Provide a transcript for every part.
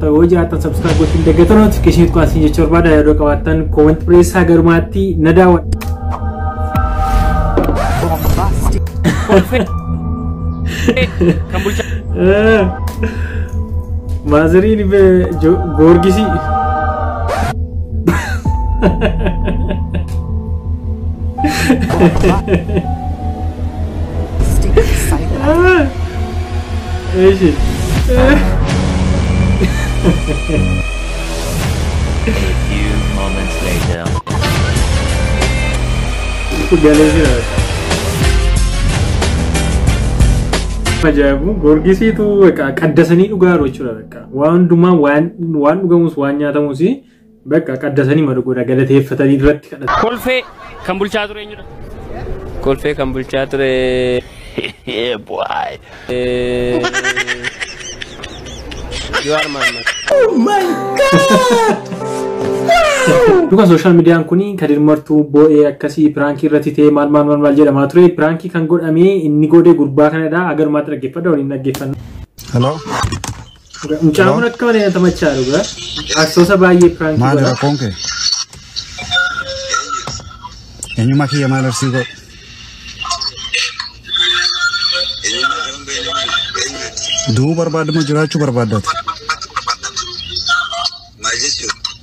Yoo jiraattan subscribe gochuun daggattan notification tuqaa siin jechuu barbaada yaadoo qabaattan comment dhiyeessaa garumaatti na daawwadha. Kan bulchaa Maazariin goorgisii. Stick silent. Eeshi. A few moments later. Galee jira. Ajaa'ibu gorgisiitu qaddasanii dhugaa jiru jechuudha. Waan hundumaa waan dhugamus waan nyaatamus Bakka qaddasanii malu godha galateeffatanii duratti kadhatu. Kolfee kan bulchaa ture eenyudha? Kolfee kan bulchaa ture. Jawaar Mahaammad. Dhuga sooshaal miidiyaan kun Kadir Martuu boo'ee akkasii piraankii irratti ta'ee maal maal maal maal jedhamaa ture. Piraankii kan godhame inni godhe gurbaa kanadha. Agarmaatti dhaggeeffadha waliin dhaggeeffanna. Hello. Mucaan kun akka malee natti machaa dhugaa. Arsoosa baay'ee piraanki Maali godha. rakkoon kee? Eenyummaa kiyya maal arsii godhu? Du'uu barbaadama jiraachuu barbaaddaati.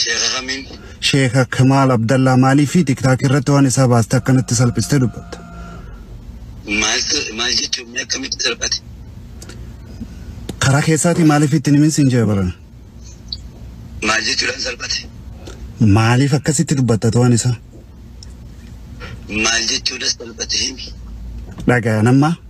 Sheeka kamiin? Sheeka Kamaal Abdallaa maaliifi tiktaakii irratti waan isaa baaste akkanatti salphistee dubbatta? Maaltu maal jechuun mee akkamitti salphate? Karaa keessaatii maaliif itti hin himin siin jee barana? Maal jechuudhaan salphate? Maaliif akkasitti dubbattatu waan isaa? Maal jechuudhaan salphate himi? Dhagaya nammaa?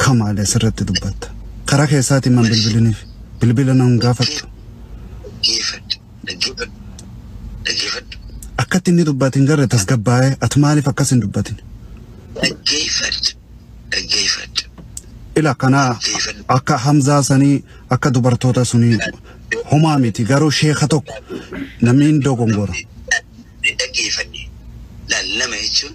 Akka maale sirratti dubbatta. Karaa keessaatiin man bilbiliniif. Bilbila na hin gaafattu. Dhaggeeffadhu, dhaggeeffadhu, dhaggeeffadhu. Akkatti inni dubbate hin garre tasgabbaa'ee ati maaliif akkas hin dubbatin? Dhaggeeffadhu, dhaggeeffadhu. Ila kana akka Hamzaa sanii akka dubartoota sunii homaa miti garuu sheeka tokko namni hin dogongora. Dhaggeeffanne. Laal nama jechuun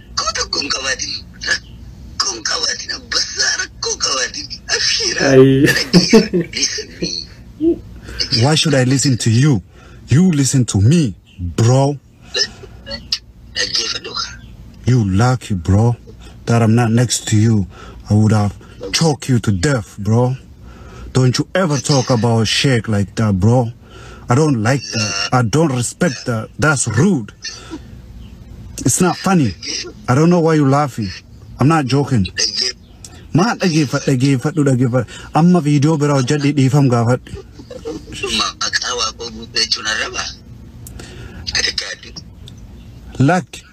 Rakkoo tokko hin qabaatin. Rakkoo hin qabaatin. Abbassaa rakkoo hin qabaatin. Abshiira. Ayii. Dhaggeeffadhu. Listen me. Why should I listen to you? You listen to me, bro. Dhaggeeffadhu kaa. You lucky, bro, that I'm not next to you. I would have choked you to death, bro. Don't you ever talk about Sheikh like that, bro. I don't like that. I don't respect that. That's rude. It's not funny. I don't know why you're laughing. I'm not joking. Maa dhageeffadhu dhageeffadhu dhageeffadhu. Amma viidiyoo biraa hojjedhi dhiifam gaafadhu. Maqaa waaqoo guutuu jechuun arraba. Adda addaa. Lakki.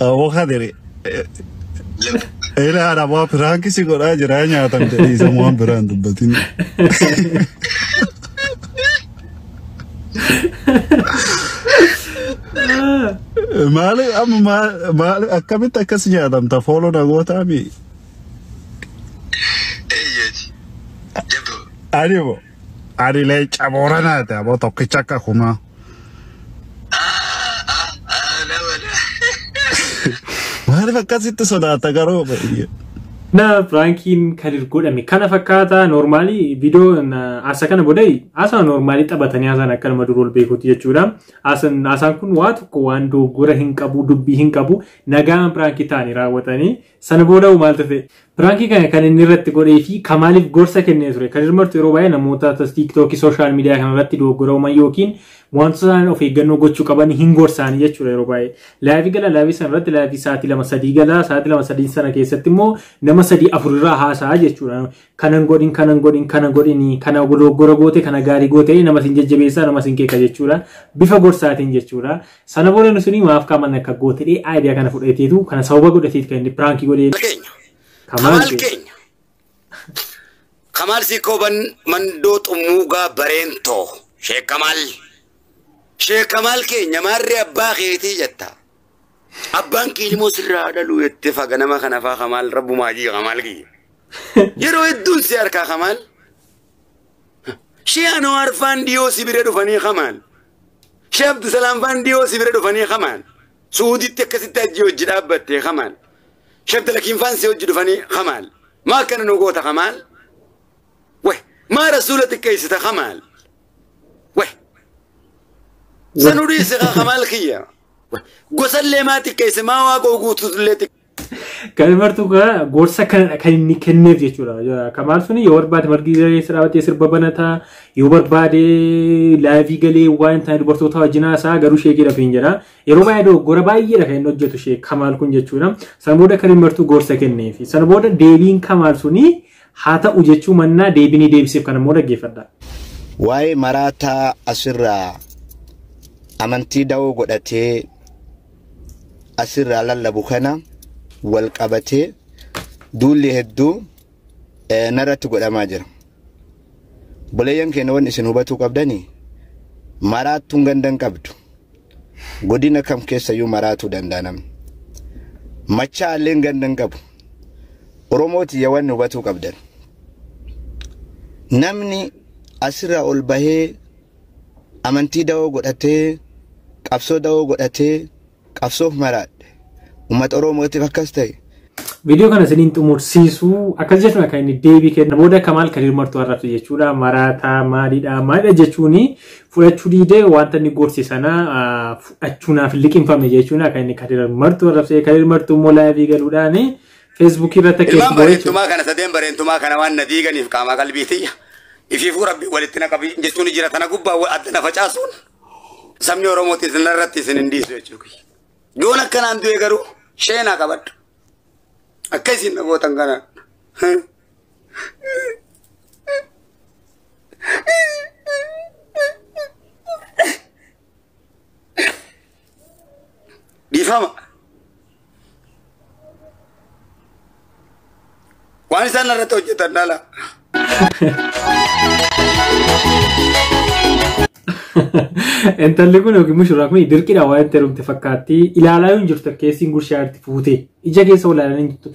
Awwa kadiri. Ila haadha waa piraanki si godhaa jiraa nyaatan jedhii isa waan biraan dubbatin. Maali amma maal- maali akkamitti akkas nyaatamta fooloo nagootaa mi? Eeyyee. Jabdu. Ani moo. Ani leenca booranaati aboo tokkicha akka kumaa. Maaliif akkasitti sodaata garuu baay'ee. Na prankiin kadir godhame kana fakkaata normaali viidiyoon asa kana bodai asa normaali taphatanii asaan akka nama durol beekuuti jechuudha. Asan- Asaan kun waa tokko waan dogoggora hin qabu dubbii hin qabu nagaan prankii ta'anii raawwatanii Sana booda hoo maal tafe? Piraankii kana kan inni irratti godhee fi kan maaliif gorsa kennee ture? Kadir Martu yeroo baay'ee namoota tiiktookii sooshaal miidiyaa kana irratti dogoggora uuman yookiin wantoota isaan of eeggannoo gochuu qaban hin gorsaanii jechuudha yeroo baay'ee. Laayivii gala laayivii sana irratti laayivii sa'aatii lama sadii gala sa'aatii lama sadii sana keessatti immoo nama sadii afur irraa haasa'a jechuudha. kana hin godhin kana hin godhin kana godhini kana dogoggora goote kana gaarii goote jedhee nama sin jajjabeessaa nama sin qeeqa jechuudha bifa gorsaatiin jechuudha sana booda inni suni maaf kaaman akka goote jedhee aayidiyaa kana fudhateetu kana sababa godhateetu kan inni piraankii godhee keenya kamaal kamaal kee keenya kamaal siikooban mandoo xummuugaa bareentoo sheek kamaal sheek kamaal keenya maarree abbaa keetii jetta Abbaan kee ilmoo sirraa haa dhaluu jettee faga nama kana faa kamaal rabbumaa jii kamaal kiyya. Yeroo hedduun si harkaa kamaal. Shee Anwaar faan dhiyoo si bira dhufanii kamaal. Shee Abdusalaam faan dhiyoo si bira dhufanii kamaal. Suuditti akkasitti hajjii hojii dhaabbattee kamaal. Shee Abdalakiin faan si hojii dhufanii kamaal. Maa akkana nu goota kamaal. Wai maa rasuula xiqqeessita kamaal. Weh. Sanuu dhiise kaa kamaal kiyya. Weh. Gosallee maa xiqqeesse maa waaqoo guutuutullee xiqqeesse. Kan martuu kana gorsa kanadha kan inni kenneef jechuudha. Ja- Kamaal suni yoo barbaade margi daree isa dhaabatee sirba banata yoo barbaade laayivii galee waan ta'e dubartoota wajjin haasaa garuu sheekii dhafiin jedha. Yeroo baay'ee dogoggora baay'eedha kan inni hojjetu sheek Kamaal kun jechuudha. Sana booda kan inni martuu gorsa kenneef. Sana booda deebiin Kamaal suni Haa ta'u jechuu mannaa deebii ni deebiseef kana immoo dhaggeeffadhaa. Waa'ee maraataa asirraa amantii da'oo godhatee asirraa lallabu kana wal qabatee duulli hedduu eh, narratti godhamaa jira. Obboleeyyan keenya wanni isin hubatuu qabdani maraattuun ganda hin qabdu. Godina kam keessayyuu maraatuu danda'a namni. Machaa'alleen ganda hin qabu. Oromoo tiyya wanni hubatuu qabdan. Namni asirraa ol bahee amantii dawoo godhatee qabsoo dawoo godhatee qabsoof maraadhe. Uummata Oromootiif akkas ta'e. Viidiyoo kana isiniin xumursiisu akkas jechuun akka inni deebii kenna. Booda Kamaal Kadiir Martuu arrabse jechuudha. Maraataa maalidha maalidha jechuun fudhachuu diidee wanta inni gorse sana fudhachuu naaf liqinfame jechuun akka inni Kadiir Martuu arrabse. Kadiir Martuu immoo laayivii galuudhaan feesbuukii irratti akka Ilmaan bareentumaa kana sadeen bareentumaa kana waan na diiganiif qaamaa qalbii tiyya. Ifiifuu rabbi walitti na qabi jechuun jira tana gubbaa adda na facaasuun. Sabni Oromootis narratti isin hin dhiisu jechuudha kiyya. Yoon akkanaan du'e garuu sheenaa qabadhu. Akka isin na gootan kana. dhiifama waan isaan irratti hojjetan dhala Intalli kun yookiin mushuraan kun dirqiidha waan itti herumte fakkaatti. Ilaalaa yoo hin jirtu keessiin gurshaa irratti fuutee ija keessa olaalanii hin jirtu.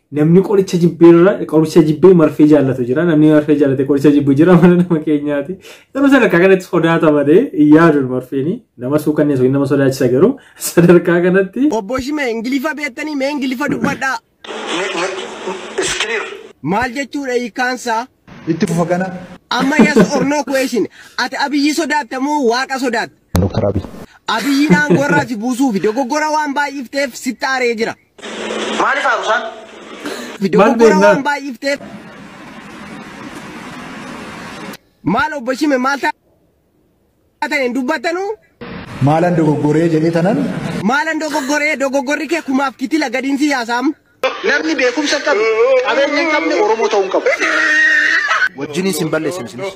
Namni qoricha jibbeerra qoricha jibbee marfee jaallatu jira. Namni marfee jaallate qoricha jibbu jira mana nama keenyaati. Garuu sadarkaa kanatti sodaata malee hin yaadu marfeen nama suukanneessu nama sodaachisa garuu sadarkaa kanatti. Obbo Shimee Ingilifa beektanii mee Ingilifa dubbadhaa. It's clear. Maal jechuudha hiikkaansaa? Itti fufa gana. Amma yes or no question. Ati Abiyyi sodaatta moo Waaqa sodaatta? Dr. Abiy. Abiyyiin aangoo irraa si buusuufi dogoggora waan baay'ifteef sitti aaree jira. Maaliif haaru isaan? Maal Dogoggora beeknaan? waan baay'ifteef. Maal obbo Shime maal taatan hin dubbattanu? Maalan dogoggoree jedhee tanan Maalan dogoggoree dogoggorri kee kumaaf kitila gadiin si yaasaam? Namni beekumsa hin qabne, qabeenya hin qabne Oromoo ta'uu hin qabu. Wajjiniin sin balleessin isinis.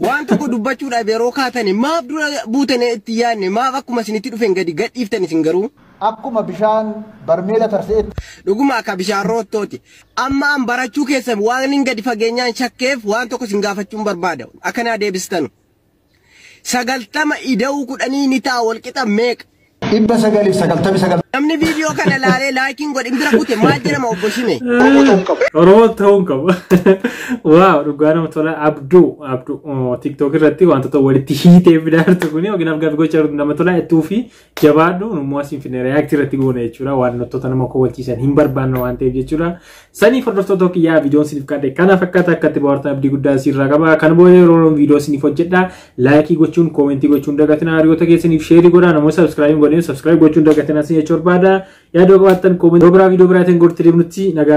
Waan tokko dubbachuudhaaf yeroo kaatani maaf dura buutanii itti yaadne maaf akkuma isinitti dhufeen gadi gadhiiftan isin garuu? Akkuma bishaan barmeela tarse'etti. Dhuguma akka bishaan roottoo ti. Amma an barachuu keessan waanin gadi fageenyaan shakkeef waan tokko isin gaafachuun barbaada. Akka naa deebistanu. Sagaltama ida'uu kudhanii ni ta'a wal qixa meeqa? 999. Namni viidiyoo kana ilaalee laayikiin godhin bira kute maal jedhama obbo Shime? Oromoo ta'uun qaba. Oromoo ta'uun qaba. Waaw dhugaa nama tola abduu abduu tiktok irratti wantoota walitti hiitee fidaartu kuni yookiin afgaaf gocha nama tola ittuu fi jabaadhu nummoo asiin finne react irratti goona jechuudha waan wantoota nama kowwachiisan hin barbaanne waan ta'eef jechuudha saniif hordoftoota kiyyaa viidiyoon siniif qaadde kana fakkaata akkatti bohaartan abdii guddaa siirraa qaba kan booda yeroo viidiyoo siniif hojjedha laayikii gochuun koomentii gochuun dagatina hariyoota keessaniif sheerii godhaa namoota sabskraayibii godheen sabskraayibii gochuun dagatina sin jechuu barbaada yaadoo qabaattan koomentii biraa viidiyoo biraatiin gortee deemnutti nagaan